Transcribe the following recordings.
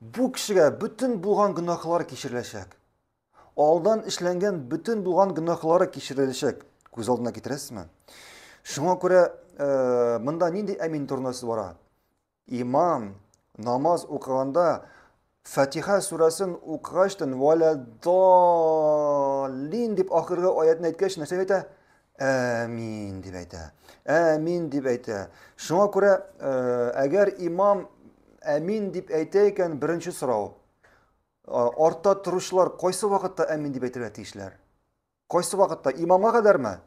Бу кешегә бөтен булган гөнаһлары кичереләчәк. Алдан эшләнгән бөтен булган гөнаһлары кичереләчәк. Күз алдына китерәсезме? Шуңа күрә э, монда нинди әмин турында сүз бара? Имам намаз укыганда Фатиха сүрәсен укыгачтын вәлә даллин дип ахыргы аятны әйткәч нәрсә әйтә? Әмин дип әйтә. Әмин дип әйтә. Шуңа күрә, э, әгәр имам әмин дип әйтә икән, беренче сорау. Э, артта торучылар кайсы вакытта әмин дип әйтергә тиешләр? Кайсы вакытта? Имамга кадәрме?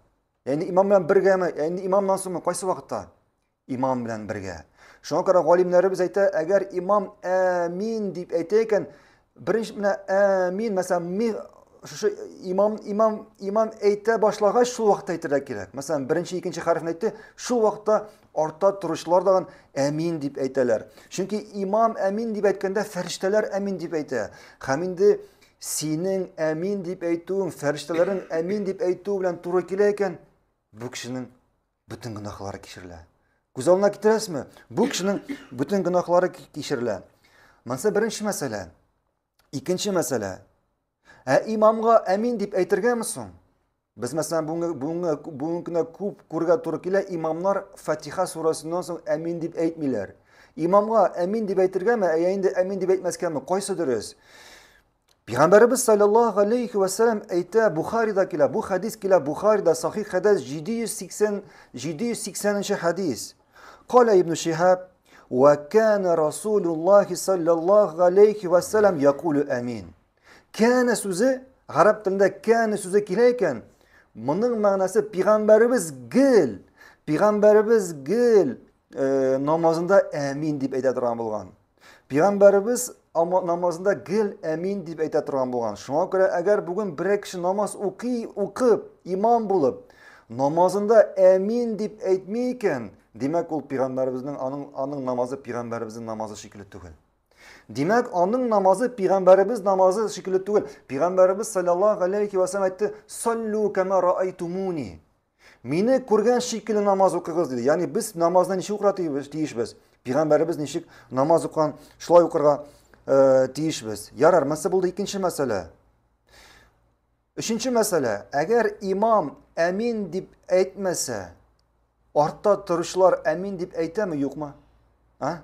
Яни имам белән бергәме? Яни имамнан соңмы? Кайсы вакытта? Имам белән бергә. Шуңа күрә галимнәребез әйтә, әгәр имам әмин дип әйтә икән, беренче менә әмин, мәсәлән, ми шушы имам имам имам әйтә башлагач шул вакытта әйтергә кирәк. Мәсәлән, беренче икенче хәрефне әйтте, шул вакытта артта торучылар да әмин дип әйтәләр. Чөнки имам әмин дип әйткәндә фәрештәләр әмин дип әйтә. Һәм инде синең әмин дип әйтүең, фәрештәләрнең әмин дип әйтүе белән туры килә икән, бу кешенең Бөтен гөнаһлары кичерелә. Күз алдына китерәсезме? Бу кешенең бөтен гөнаһлары кичерелә. Монысы беренче мәсьәлә. Икенче мәсьәлә. Ә имамга әмин дип әйтергәме соң? Без мәсәлән бүгенге бүгенге бүгенге көндә күп күргә туры килә, имамнар Фатиха сурасыннан соң әмин дип әйтмиләр. Имамга әмин дип әйтергәме, ә инде әмин дип әйтмәскәме, кайсы дөрес? Пәйгамбәребез саллаллаһу алейхи ва саллям әйтә, Бухарида килә, бу хадис килә Бухарида, сахих хадис 780 780-нче хадис. Кала Ибн Шихаб, "Ва кана Расулуллахи саллаллаһу алейхи ва саллям якулу амин." Кана сүзе гарәп телендә кана сүзе килә икән. Моның мәгънәсе пәйгамбәребез гел, пәйгамбәребез гел э, намазында амин дип әйтә торган булган. Пәйгамбәребез намазында гел әмин дип әйтә торган булган. Шуңа күрә әгәр бүген берәр кеше намаз укый, укып, имам булып, намазында әмин дип әйтми икән, димәк ул пәйгамбәребезнең аның аның намазы пәйгамбәребезнең намазы шикелле түгел. Димәк, аның намазы пәйгамбәребез намазы шикелле түгел. Пәйгамбәребез саллаллаһу алейхи ва саллям әйтте: "Саллу кама раайтумуни". Мине күргән шикелле намаз укыгыз диде. Ягъни без намазны ничек укырга тиешбез? Пигамбәребез ничек намаз укыган, шулай укырга э, тиешбез. Ярар, мәсьәлә булды икенче мәсьәлә. Өченче мәсьәлә, әгәр имам әмин дип әйтмәсә, артта торучылар әмин дип әйтәме, юкмы? А?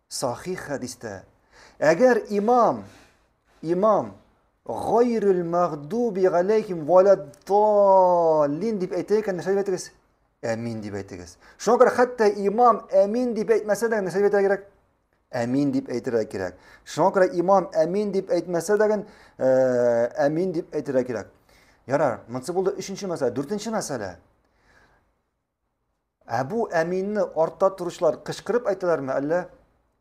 Сахих хәдистә. Әгәр имам, имам, гайрул мәгдуби галейхим валаддаллин дип әйтә икән, нәрсә дип әйтегез? Әмин дип әйтегез. Шуңа күрә хәтта имам әмин дип әйтмәсә дә, нәрсә дип әйтергә кирәк? Әмин дип әйтергә кирәк. Шуңа күрә имам әмин дип әйтмәсә дә, э, әмин дип әйтергә кирәк. Ярар, монсы булды өченче мәсьәлә, дүртенче мәсьәлә. Әбу Әминне артта торучылар кычкырып әйтәләрме, әллә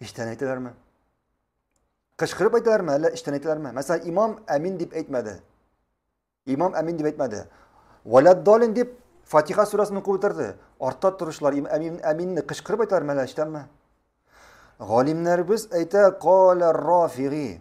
эчтән әйтәләрме? Кычкырып әйтәләрме, әллә эчтән әйтәләрме? Мәсәлән, имам Әмин дип әйтмәде. Имам Әмин дип әйтмәде. Валяддалин дип Фатиха сүрәсен укып үтерде. Артта торучылар им әмин әминне кычкырып әйтәр мәлә эчтәнме? Галимнәребез әйтә кала рафиги.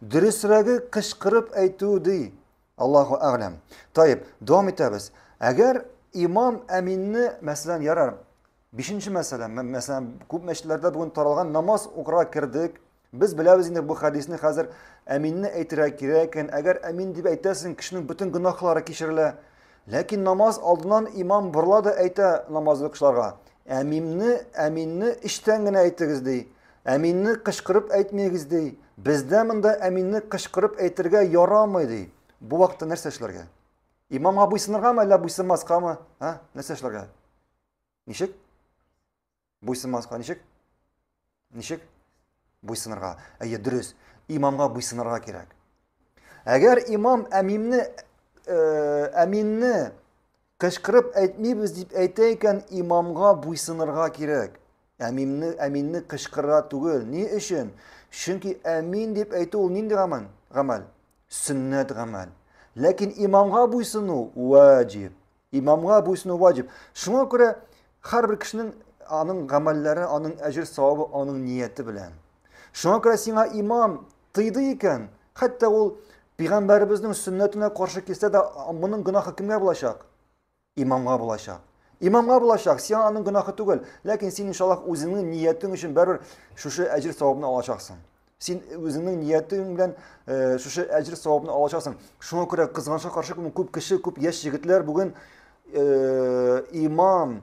Дөресрәге кычкырып әйтү ди. Аллаһу әгъләм. Таеп, дәвам итәбез. Әгәр имам әминне, мәсәлән, ярар, бишенче мәсәлә, мәсәлән, күп мәчетләрдә бүген таралган намаз укырга кердек. Без беләбез инде бу хәдисне хәзер әминне әйтергә кирәк икән. Әгәр әмин дип әйтәсең, кешенең бөтен гөнаһлары кичерелә. Ләкин намаз алдыннан имам борыла да әйтә намазлы кешеләргә. Әмимне, әминне эчтән генә әйтегез ди. Әминне кычкырып әйтмәгез, ди. Бездә монда әминне кычкырып әйтергә ярамый, ди. Бу вакытта нәрсә эшләргә? Имамга буйсыныргамы, әллә буйсынмаскамы? Ә? Нәрсә эшләргә? Ничек? Буйсынмаска ничек? Ничек? Буйсынырга. Әйе, дөрес. Имамга буйсынырга кирәк. Әгәр имам әмимне әминне Кычкырып әйтмибез дип әйтә икән, имамга буйсынырга кирәк. Әминне, әминне кычкырыра түгел. Ни өчен? Чөнки әмин дип әйтү ул нинди гамәл? Гамәл. Сөннәт гамәл. Ләкин имамга буйсыну ваҗиб. Имамга буйсыну ваҗиб. Шуңа күрә һәрбер кешенең аның гамәлләре, аның әҗер савабы, аның нияте белән. Шуңа күрә сиңа имам тыйды икән, хәтта ул пигамбәребезнең сөннәтенә каршы килсә дә, моның гөнаһы кемгә булачак? Имамга булачак. Имамга булачак, сиңа аның гөнаһы түгел, ләкин син иншаллах үзеңнең ниятең өчен бәрер шушы әҗир савабны алачаксың. Син үзеңнең ниятең белән э, шушы әҗир савабны алачаксың. Шуңа күрә кызганычка каршы күп кеше, күп яшь егетләр бүген э, имам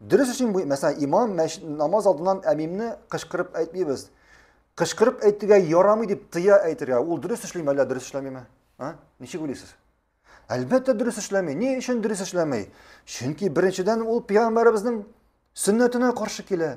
Дөрес өчен бу, мәсәлән, имам мәш- намаз алдыннан әмимне кычкырып әйтмибез. Кычкырып әйтергә ярамый дип тыя әйтергә. Ул дөрес эшлиме әллә дөрес эшләмиме? А? Ничек уйлыйсыз? Әлбәттә дөрес эшләми. Ни өчен дөрес эшләми? Чөнки беренчедән ул пәйгамбәребезнең сөннәтенә каршы килә.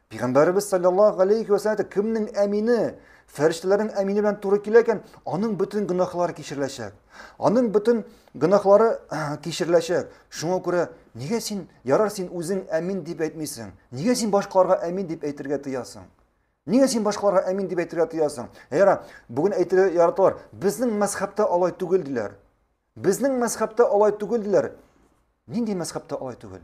Пәйгамбәребез саллаллаһу алейхи ва саллям кемнең әмине, фәрештәләрнең әмине белән туры килә икән, аның бөтен гөнаһлары кичереләчәк. Аның бөтен гөнаһлары кичереләчәк. Шуңа күрә нигә син ярар син үзең әмин дип әйтмисең? Нигә син башкаларга әмин дип әйтергә тыясың? Нигә син башкаларга әмин дип әйтергә тыясың? Яра, бүген әйтергә яраталар. Безнең мәзхәбтә алай түгел диләр. Безнең мәзхәбтә алай түгел диләр. Нинди мәзхәбтә алай түгел?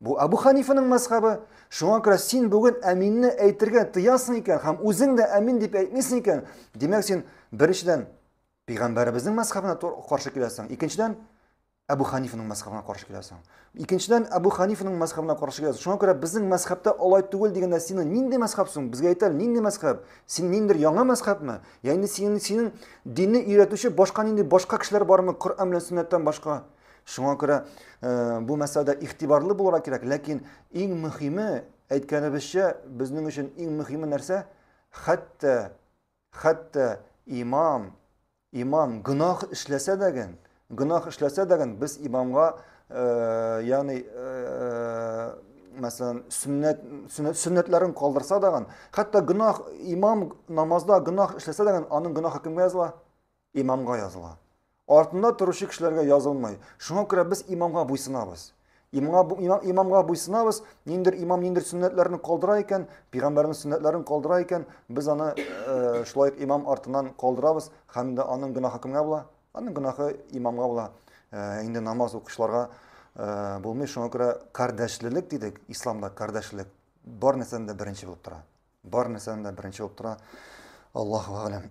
Бу Әбү Ханифаның мәзхәбе, шуңа күрә син бүген әминне әйтергә тыясың икән һәм үзең дә әмин дип әйтмисең икән, димәк син беренчедән пәйгамбәребезнең мәзхәбенә каршы киләсең, икенчедән Әбу Ханифаның мәзхәбенә каршы киләсең. Икенчедән Әбу Ханифаның мәзхәбенә каршы киләсең. Шуңа күрә безнең мәзхәбтә алай түгел дигәндә синең нинди мәзхәб соң? Безгә әйтәл, нинди мәзхәб? Син ниндер яңа мәзхәбме? Яни синең синең динне өйрәтүче башка нинди башка кешеләр бармы Коръән белән сөннәттән башка? Шуңа күрә бу мәсьәләдә игътибарлы булырга кирәк, ләкин иң мөһиме, әйткәнебезчә, безнең өчен иң мөһиме нәрсә? Хәтта хәтта имам имам гөнаһ эшләсә дә гэн, гөнаһ эшләсә дә гэн без имамга, ягъни, мәсәлән, сөннәт сөннәтләрен калдырса да гэн, хәтта гөнаһ имам намазда гөнаһ эшләсә дә гэн, аның гөнаһы кемгә языла? Имамга языла. Артында торучы кешеләргә язылмый. Шуңа күрә без имамга буйсынабыз. Имамга, имам, имамга буйсынабыз, ниндер имам ниндер сөннәтләрне калдыра икән, пигамбәрнең сөннәтләрен калдыра икән, без аны э, шулай имам артынан калдырабыз, һәм дә аның гөнаһы кемгә була? Аның гөнаһы имамга була. Э, инде намаз укучыларга э, булмый, шуңа күрә кардәшлелек дидек, исламда кардәшлелек бар нәрсәдән дә беренче булып тора. Бар нәрсәдән дә беренче булып тора. Аллаһу әгъләм.